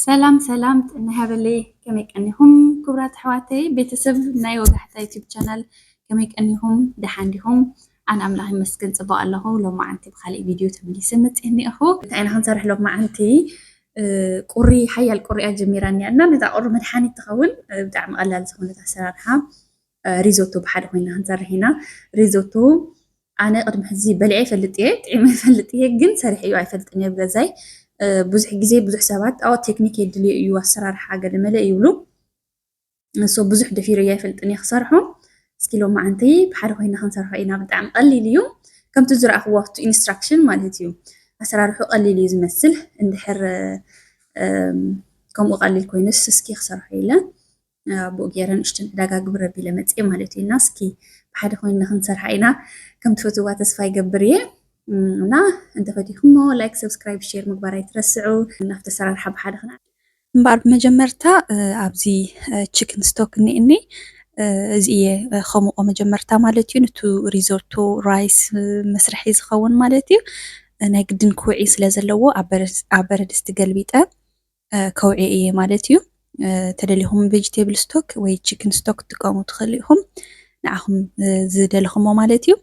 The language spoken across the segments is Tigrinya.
ሰላም ሰላም ጥዕና ይሃበለይ ከመይ ቀኒኹም ክቡራት ኣሕዋተይ ቤተሰብ ናይ ወጋሕታ ዩቲብ ቻናል ከመይ ቀኒኹም ደሓን ዲኹም ኣነ ኣምላኽ ይመስገን ፅቡቅ ኣለኹ ሎማዓንቲ ብካሊእ ቪድዮ ተመሊሰ መፅእ እኒኣኹ እንታይ ኢና ክንሰርሕ ሎማዓንቲ ቁሪ ሓያል ቁሪያ ጀሚራ እኒኣ እና ነዛ ቁሪ መድሓኒት ትኸውን ብጣዕሚ ቀላል ዝኾነት ኣሰራርሓ ሪዞቶ ብሓደ ኮይና ክንሰርሕ ኢና ሪዞቶ ኣነ ቅድሚ ሕዚ በልዐ ይፈልጥ እየ ጥዒመ ይፈልጥ እየ ግን ሰሪሐ እዩ ኣይፈልጥን እየ ብገዛይ ብዙሕ ግዜ ብዙሕ ሰባት ኣዎ ቴክኒክ የድልዮ እዩ ኣሰራርሓ ገለ መለ ይብሉ ንሶ ብዙሕ ደፊረ እየ ኣይፈልጥን እየ ክሰርሖ እስኪ ሎማዓንቲ ብሓደ ኮይና ክንሰርሖ ኢና ብጣዕሚ ቀሊል እዩ ከምቲ ዝረኣኽዎ ኣብቲ ኢንስትራክሽን ማለት እዩ ኣሰራርሑ ቀሊል እዩ ዝመስል እንድሕር ከምኡ ቀሊል ኮይኑስ እስኪ ክሰርሖ ኢለ ናብኡ ገይረ ንእሽተን ዕዳጋ ግብር ኣቢለ መፅየ ማለት እዩ እና እስኪ ብሓደ ኮይንና ክንሰርሓ ኢና ከም ትፈትዋ ተስፋ ይገብር እየ እና እንተፈቲኹሞ ላይክ ሰብስክራይብ ሼር ምግባር ኣይትረስዑ ናብቲ ኣሰራርሓ ብሓደ ክና እምበኣር ብመጀመርታ ኣብዚ ቺክን ስቶክ እኒእኒ እዚ እየ ከምቆ መጀመርታ ማለት እዩ ንቱ ሪዞቶ ራይስ መስርሒ ዝኸውን ማለት እዩ ናይ ግድን ክውዒ ስለ ዘለዎ ኣብ በረድስቲ ገልቢጠ ከውዒ እየ ማለት እዩ። ተደሊኹም ቬጅቴብል ስቶክ ወይ ቺክን ስቶክ ክትጥቀሙ ትኽእሉ ኢኹም ንዓኹም ዝደለኹሞ ማለት እዩ።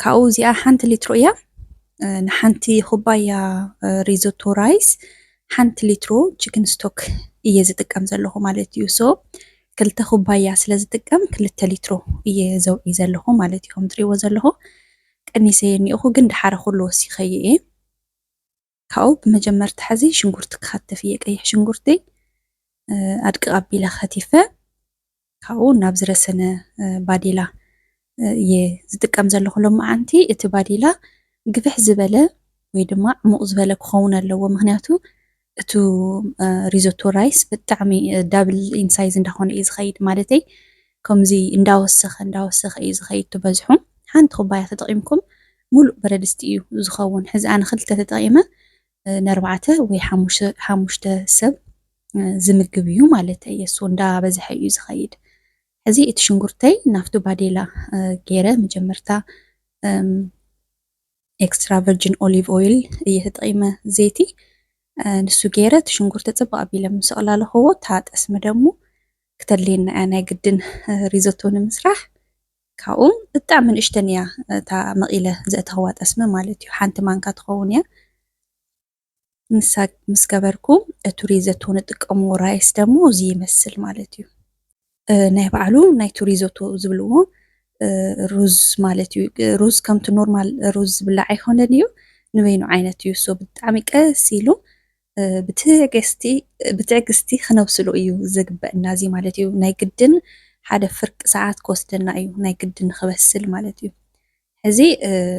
ካብኡ እዚኣ ሓንቲ ሊትሮ እያ ንሓንቲ ኩባያ ሪዞቶ ራይስ ሓንቲ ሊትሮ ቺክን ስቶክ እየ ዝጥቀም ዘለኹ ማለት እዩ ሶ ክልተ ኩባያ ስለ ዝጥቀም ክልተ ሊትሮ እየ ዘውዒ ዘለኹ ማለት እዩ ከም ትሪእዎ ዘለኹ ቀኒሰ እኒኦኹ ግን ድሓረ ኩሉ ወሲኸዩ እየ ካብኡ ብመጀመርታ ሕዚ ሽንጉርቲ ክኸትፍ እየ ቀይሕ ሽንጉርቲ ኣድቅቕ ኣቢለ ከቲፈ ካብኡ ናብ ዝረሰነ ባዴላ እየ ዝጥቀም ዘለኹ ሎመዓንቲ እቲ ባዴላ ግፍሕ ዝበለ ወይ ድማ ዕሙቕ ዝበለ ክኸውን ኣለዎ ምክንያቱ እቱ ሪዞቶ ራይስ ብጣዕሚ ዳብል ኢንሳይዝ እንዳኾነ እዩ ዝኸይድ ማለተይ ከምዚ እንዳወሰኸ እንዳወሰኸ እዩ ዝኸይድ ትበዝሑ ሓንቲ ኩባያ ተጠቒምኩም ሙሉእ በረድስቲ እዩ ዝኸውን። ሕዚ ኣነ ክልተ ተጠቂመ ነርባዕተ ወይ ሓሙሽተ ሰብ ዝምግብ እዩ ማለተይ እየ። እሱ እንዳ በዝሐ እዩ ዝኸይድ። ሕዚ እቲ ሽንጉርተይ ናብቲ ባዴላ ገይረ መጀመርታ ኤክስትራ ቨርጂን ኦሊቭ ኦይል እየ ተጠቂመ ዘይቲ ንሱ ገይረ እቲ ሽንጉርቲ ፅብቅ ኣቢለ ምስ ኣቕላለኹዎ እታ ጠስሚ ደሞ ክተድልየና እያ ናይ ግድን ሪዞቶ ንምስራሕ ካብኡ ብጣዕሚ ንእሽተን እያ እታ መቒለ ዘእተኽዋ ጠስሚ ማለት እዩ ሓንቲ ማንካ ትኸውን እያ ንሳ ምስ ገበርኩ እቲ ሪዘቶ ንጥቀምዎ ራይስ ደሞ እዚ ይመስል ማለት እዩ ናይ ባዕሉ ናይቲ ሪዞቶ ዝብልዎ ሩዝ ማለት እዩ ሩዝ ከምቲ ኖርማል ሩዝ ዝብላዕ ኣይኮነን እዩ ንበይኑ ዓይነት እዩ ሶ ብጣዕሚ ቀስ ኢሉ ብትዕግስቲ ክነብስሎ እዩ ዘግበእና እዚ ማለት እዩ ናይ ግድን ሓደ ፍርቂ ሰዓት ክወስደና እዩ ናይ ግድን ንክበስል ማለት እዩ ሕዚ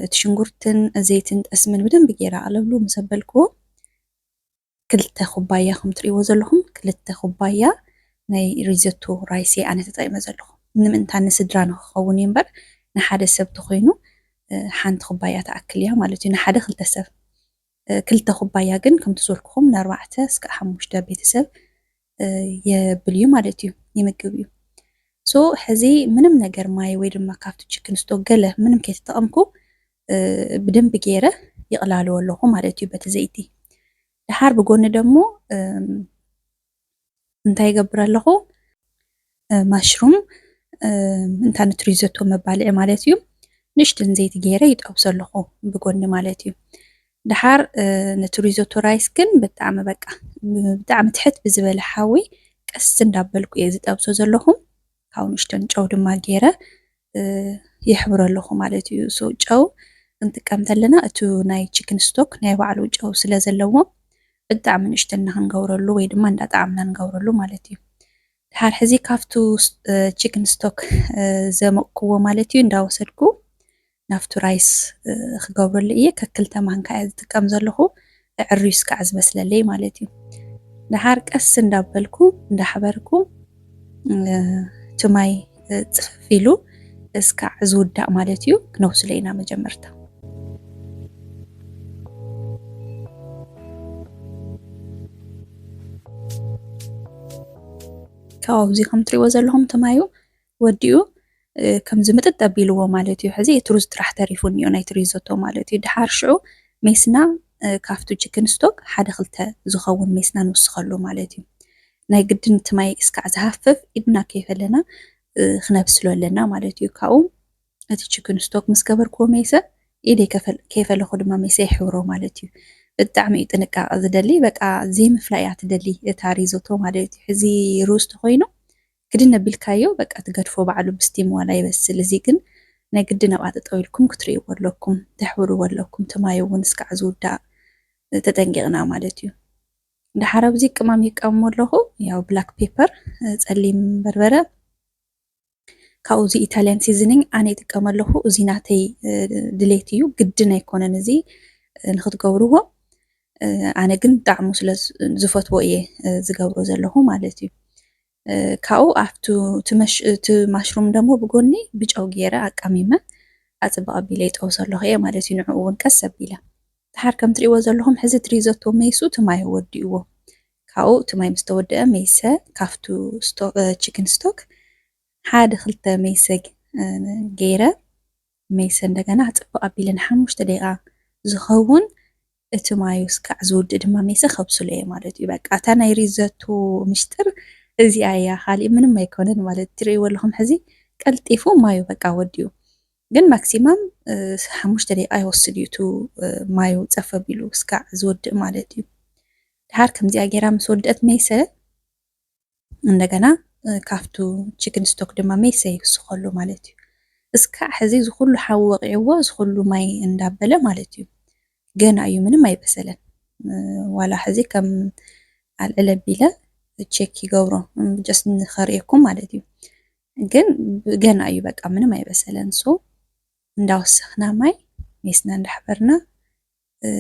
እቲ ሽንጉርትን ዘይትን ጠስምን ብደንብ ገይረ ኣለብሉ ምስ ኣበልክዎ ክልተ ኩባያ ከም ትርእይዎ ዘለኹም ክልተ ኩባያ ናይ ሪዘቶ ራይሴ ኣነ ተጠቂመ ዘለኹ ንምእንታ ንስድራ ንክኸውን እዩ እምበር ንሓደ ሰብ ተኮይኑ ሓንቲ ኩባያ ተኣክል እያ ማለት እዩ ንሓደ ክልተ ሰብ ክልተ ኩባያ ግን ከምቲ ዝበልኩኹም ንኣርባዕተ እስካዕ ሓሙሽተ ቤተሰብ የብል እዩ ማለት እዩ ይምግብ እዩ ሶ ሕዚ ምንም ነገር ማይ ወይ ድማ ካብቲ ችክን ስቶክ ገለ ምንም ከይተጠቐምኩ ብደንብ ገይረ ይቕላለዎ ኣለኹ ማለት እዩ በቲ ዘይቲ ድሓር ብጎኒ ደሞ እንታይ ይገብር ኣለኹ ማሽሩም እንታ ንትሪ ዘቶ መባልዒ ማለት እዩ ንእሽትን ዘይቲ ገይረ ይጠብሶ ኣለኹ ብጎኒ ማለት እዩ ድሓር ነቲ ሪዞቶ ራይስ ግን ብጣዕሚ በቃ ብጣዕሚ ትሕት ብዝበለ ሓዊ ቀስ እንዳበልኩ እየ ዝጠብሶ ዘለኹ ካብኡ ንእሽተን ጨው ድማ ገይረ የሕብሮ ኣለኹ ማለት እዩ። ሶ ጨው ክንጥቀም ተለና እቱ ናይ ቺክን ስቶክ ናይ ባዕሉ ጨው ስለ ዘለዎ ብጣዕሚ ንእሽተን እና ክንገብረሉ ወይ ድማ እንዳጣዓምና ንገብረሉ ማለት እዩ። ድሓር ሕዚ ካብቱ ቺክን ስቶክ ዘመቅኩዎ ማለት እዩ እንዳወሰድኩ ናብቱ ራይስ ክገብረሉ እየ ከክልተ ማንካ እየ ዝጥቀም ዘለኹ። እዕርዩስ ክዓ ዝመስለለይ ማለት እዩ። ደሓር ቀስ እንዳበልኩ እንዳሕበርኩ እቲ ማይ ፅፍፍ ኢሉ እስካዕ ዝውዳእ ማለት እዩ ክነውስሎ ኢና መጀመርታ። ካብዚ ከም ትሪእዎ ዘለኹም እቲ ማዩ ወዲኡ ከምዚ ምጥጥ ኣቢልዎ ማለት እዩ። ሕዚ እቲ ሩዝ ጥራሕ ተሪፉ እኒኦ ናይቲ ሪዞቶ ማለት እዩ። ድሓር ሽዑ ሜስና ካብቱ ቺክን ስቶክ ሓደ ክልተ ዝኸውን ሜስና ንውስኸሉ ማለት እዩ። ናይ ግድን እቲ ማይ እስካዕ ዝሃፍፍ ኢድና ከይፈለና ክነብስሎ ኣለና ማለት እዩ። ካብኡ እቲ ቺክን ስቶክ ምስ ገበርክዎ ሜሰ ኢደይ ከይፈለኹ ድማ ሜሰ ይሕብሮ ማለት እዩ። ብጣዕሚ እዩ ጥንቃቐ ዝደሊ በቃ ዘይምፍላይ እያ ትደሊ እታ ሪዞቶ ማለት እዩ። ሕዚ ሩዝ ተኾይኑ ክድን ኣቢልካዮ በቃ ትገድፎ ባዕሉ ብስቲም ዋላ ይበስል እዚ ግን ናይ ግድን ኣብኣ ጠጠው ኢልኩም ክትርእይዎ ኣለኩም ተሕብርዎ ኣለኩም እቲ ማይ እውን እስካዕ ዝውዳእ ተጠንቂቅና ማለት እዩ ደሓር ኣብዚ ቅማም ይቃምሞ ኣለኹ ያው ብላክ ፔፐር ጸሊም በርበረ ካብኡ እዚ ኢታልያን ሲዝኒንግ ኣነ ይጥቀመ ኣለኹ እዚ ናተይ ድሌት እዩ ግድን ኣይኮነን እዚ ንክትገብርዎ ኣነ ግን ጣዕሙ ስለ ዝፈትዎ እየ ዝገብሮ ዘለኹ ማለት እዩ። ካብኡ ኣብቲ እቲ ማሽሩም ደሞ ብጎኒ ብጨው ገይረ ኣቃሚመ ኣፅብቕ ኣቢለ ይጠብሶ ኣለኹ እየ ማለት እዩ። ንዕኡ እውን ቀስ ኣቢለ ድሓር ከም ትሪእዎ ዘለኹም ሕዚ እቲ ሪዞቶ መይሱ እቲ ማይ ወዲእዎ ካብኡ እቲ ማይ ምስ ተወደአ መይሰ ካብቱ ቺክን ስቶክ ሓደ ክልተ መይሰ ገይረ ሜሰ እንደገና ጽብቅ ኣቢለ ንሓሙሽተ ደቂቃ ዝከውን እቲ ማዩ ስካዕ ዝውድእ ድማ ሜሰ ከብስሎ እየ ማለት እዩ በቃ እታ ናይ ሪዘቱ ምሽጥር እዚኣ እያ ካሊእ ምንም ኣይኮነን ማለት ትርእይዎ ኣለኹም ሕዚ ቀልጢፉ ማዩ በቃ ወዲኡ ግን ማክሲማም ሓሙሽተ ደቂቃ ይወስድ እዩ እቲ ማዩ ጸፍ ኣቢሉ ስካዕ ዝወድእ ማለት እዩ ድሓር ከምዚኣ ጌራ ምስ ወድእት ሜሰ እንደገና ካብቱ ቺክን ስቶክ ድማ ሜሰ ይውስኸሉ ማለት እዩ። እስካዕ ሕዚ እዚ ኩሉ ሓዊ ወቂዕዎ እዚ ኩሉ ማይ እንዳበለ ማለት እዩ። ገና እዩ ምንም ኣይበሰለን። ዋላ ሕዚ ከም ኣልዕል ኣቢለ ቼክ ይገብሮ ጀስት ንኸርእየኩም ማለት እዩ። ግን ገና እዩ በቃ ምንም ኣይበሰለን። ሶ እንዳወሰኽና ማይ ሜስና እንዳሕበርና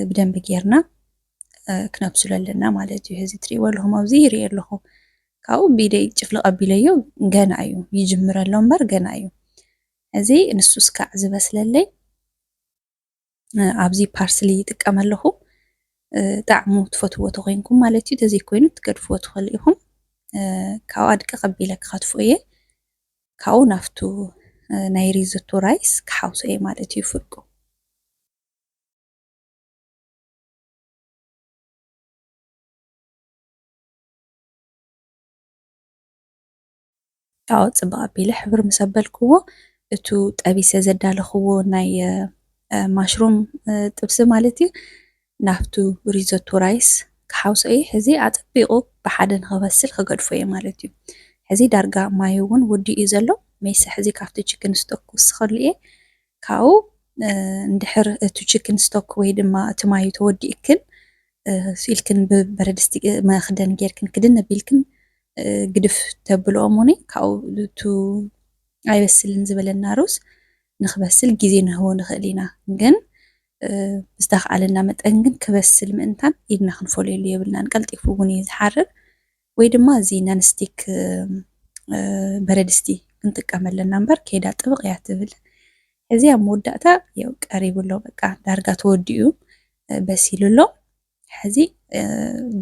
ብደንቢ ጌርና ክነብስሎ ኣለና ማለት እዩ። እዚ ትሪእዎ ኣለኹም ኣብዚ ይርኢ ኣለኹ ካብኡ ቢደይ ጭፍልቕ ኣቢለዮ ገና እዩ ይጅምር ኣሎ እምበር ገና እዩ። እዚ ንሱ እስካዕ ዝበስለለይ ኣብዚ ፓርስሊ ይጥቀም ኣለኹ ጣዕሙ ትፈትዎ ተኮይንኩም ማለት እዩ። ተዘይኮይኑ ትገድፍዎ ትኽእሉ ኢኹም። ካብኡ ኣድቂ ቀቢለ ክኸትፎ እየ ካብኡ ናፍቱ ናይ ሪዞቶ ራይስ ክሓውሶ እየ ማለት እዩ ፍርቁ ኣዎ ጽብቅ ኣቢለ ሕብር ምስ ኣበልክዎ እቱ ጠቢሰ ዘዳለኽዎ ናይ ማሽሩም ጥብሲ ማለት እዩ ናብቱ ሪዞቶ ራይስ ክሓውሶ እየ ሕዚ ኣጸቢቁ ብሓደ ንክበስል ክገድፎ እየ ማለት እዩ ሕዚ ዳርጋ ማዩ እውን ወዲኡ እዩ ዘሎ ሜሰ ሕዚ ካብቲ ችክን ስቶክ ክውስኸሉ እየ ካብኡ እንድሕር እቲ ቺክን ስቶክ ወይ ድማ እቲ ማዩ ተወዲኡክን ኢልክን ብበረድስቲ መኽደን ጌርክን ክድን ኣቢልክን ግድፍ ተብልኦ እሙኒ ካብኡ እቱ ኣይበስልን ዝበለና ሩዝ ንክበስል ግዜ ንህቦ ንኽእል ኢና ግን ብዝተኽኣለና መጠን ግን ክበስል ምእንታን ኢድና ክንፈልየሉ የብልናን ቀልጢፉ እውን እዩ ዝሓርር ወይ ድማ እዚ ነንስቲክ በረድስቲ ክንጥቀም ኣለና እምበር ከይዳ ጥብቕ እያ ትብል። ሕዚ ኣብ መወዳእታ የው ቀሪቡ ኣሎ በቃ ዳርጋ ተወዲኡ በሲሉ ኣሎ። ሕዚ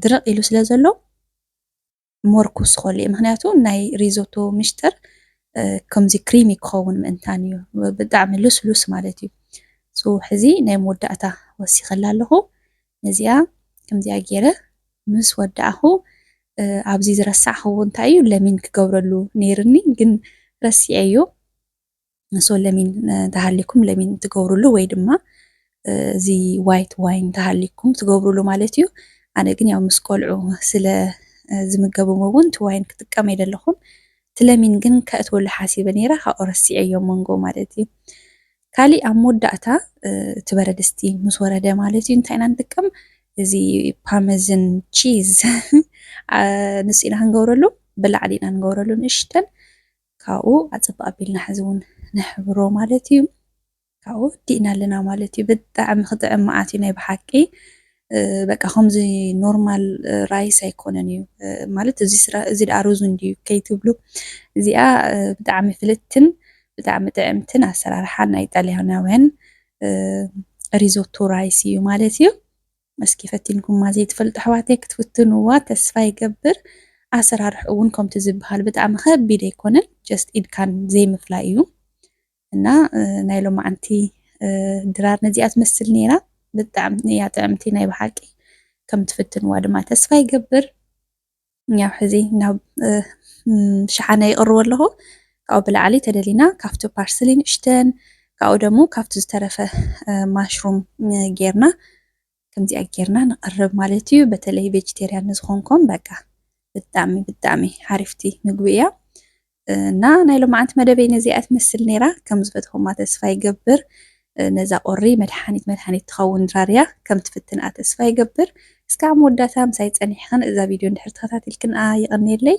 ድርቕ ኢሉ ስለ ዘሎ ሞር ክውስኸሉ እዩ ምክንያቱ ናይ ሪዞቶ ምሽጥር ከምዚ ክሪሚ ክኸውን ምእንታን እዩ ብጣዕሚ ልስሉስ ማለት እዩ። ሶ ሕዚ ናይ መወዳእታ ወሲኸላ ኣለኹ። ነዚኣ ከምዚኣ ጌረ ምስ ወዳእኩ ኣብዚ ዝረሳዕክዎ እንታይ እዩ ለሚን ክገብረሉ ነይርኒ ግን ረሲዐዮ ሶ ለሚን እንተሃሊኩም ለሚን ትገብሩሉ ወይ ድማ እዚ ዋይት ዋይን እንተሃሊኩም ትገብሩሉ ማለት እዩ ኣነ ግን ያው ምስ ቆልዑ ስለ ዝምገብዎ እውን እቲ ዋይን ክጥቀም ኣይደለኹን እቲ ለሚን ግን ከእትወሉ ሓሲበ ነይረ ካብኡ ረሲዐዮ መንጎ ማለት እዩ ካሊእ ኣብ መወዳእታ እቲ በረድስቲ ምስ ወረደ ማለት እዩ እንታይ ኢና ንጥቀም እዚ ፓመዝን ቺዝ ንሱ ኢና ክንገብረሉ ብላዕሊ ኢና ንገብረሉ ንእሽተን ካብኡ ኣፀብቅ ኣቢልና ሕዚ እውን ንሕብሮ ማለት እዩ ካብኡ ዲእና ኣለና ማለት እዩ ብጣዕሚ ክጥዕም መዓት እዩ ናይ ብሓቂ በቃ ከምዚ ኖርማል ራይስ ኣይኮነን እዩ ማለት እዚ ስራ እዚ ደኣ ሩዝ እንድዩ ከይትብሉ እዚኣ ብጣዕሚ ፍልጥትን ብጣዕሚ ጥዕምትን ኣሰራርሓ ናይ ጣልያናውያን ሪዞቶ ራይስ እዩ ማለት እዩ። እስኪ ፈቲንኩማ ዘይትፈልጡ ኣሕዋተይ ክትፍትንዋ ተስፋ ይገብር። ኣሰራርሕ እውን ከምቲ ዝበሃል ብጣዕሚ ከቢድ ኣይኮነን ጀስት ኢድካን ዘይምፍላይ እዩ። እና ናይ ሎማዓንቲ ድራር ነዚኣ ትመስል ነይራ ብጣዕሚ እያ ጥዕምቲ ናይ ብሓቂ ከም ትፍትንዋ ድማ ተስፋ ይገብር ያው ሕዚ ናብ ሸሓነ ይቕርቦ ኣለኹ ካብኡ ብላዕሊ ተደሊና ካብቲ ፓርስሊ ንእሽተን ካብኡ ደሞ ካብቲ ዝተረፈ ማሽሩም ጌርና ከምዚኣ ጌርና ነቅርብ ማለት እዩ በተለይ ቬጅቴርያን ንዝኮንኩም በቃ ብጣዕሚ ብጣዕሚ ሓሪፍቲ ምግቢ እያ እና ናይ ሎማዓንቲ መደበይ ነዚኣ ትመስል ነይራ ከም ዝፈትኹማ ተስፋ ይገብር ነዛ ቁሪ መድሓኒት መድሃኒት ትኸውን ድራር እያ ከም ትፍትንኣ ተስፋ ይገብር እስካዕ መወዳእታ ምሳይ ጸኒሕኽን እዛ ቪድዮ እንድሕር ተኸታቲልክንኣ ይቕንየለይ